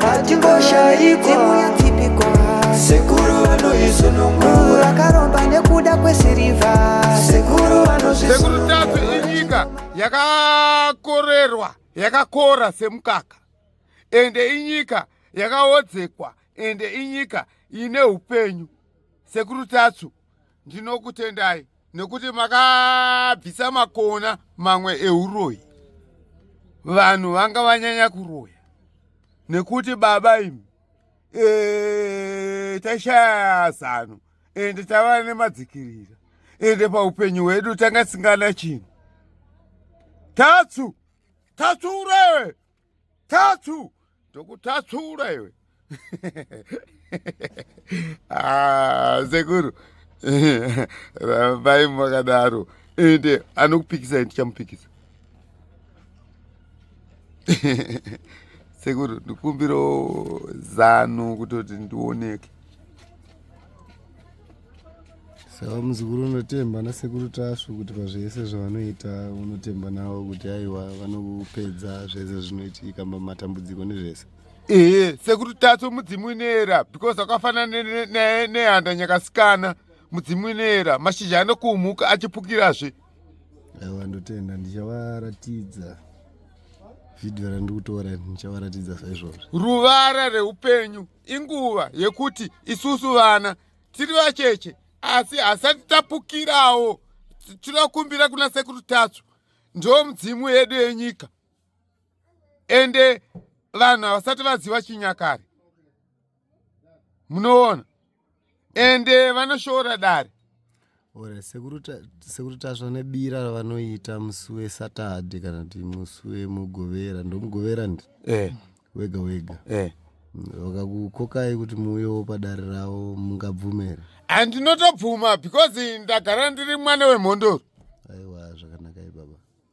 hatingoshayi dzimu yetsipiko sekuru vanoizunungura akaromba nekuda kwesirivha sekuru vanozvisekuru tatsu inyika yakakorerwa yakakora semukaka ende inyika yakaodzekwa ende inyika ine upenyu sekuru tatsu ndinokutendai nekuti makabvisa makona mamwe euroyi vanhu vanga vanyanya kuroya nekuti baba imi eh, tashaya zano ende tava nemadzikirira ende paupenyu hwedu tanga tisingana chinhu tatsu tatsu urewe tatsu ndokutatsura iwe ah, sekuru rambai makadaro ende anokupikisa ndichamupikisa sekuru ndikumbiro zano kutoti ndioneke saka muzukuru unotemba nasekuru tasvu kuti pazvese zvavanoita unotemba navo kuti aiwa vanokupedza zvese zvinoitika matambudziko nezvese ehe sekuru tasvu mudzimu unoera because akafanana nehanda nyakasikana mudzimu unoera mashizha anokuumuka achipukirazve aiwa ndotenda ndichavaratidza vhidhiyo randikutora ndichavaratidza saizvozvo ruvara reupenyu inguva yekuti isusu vana tiri vacheche asi hasati tapukirawo tinokumbira kuna sekuru tatsu ndo mudzimu yedu yenyika ende vanhu havasati vaziva chinyakare munoona ende eh, vanoshoora dare ore sekuru tasva nebira ravanoita musi wesatade kana kuti musi wemugovera ndomugovera ndi eh. wega wega eh. vakakukokai kuti muuyewo padare ravo mungabvumera andinotobvuma because ndagara ndiri mwana wemhondoro aiwa zvakanaka ibaba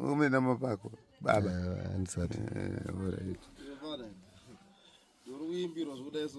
umenama pako baba eh, andisati eh,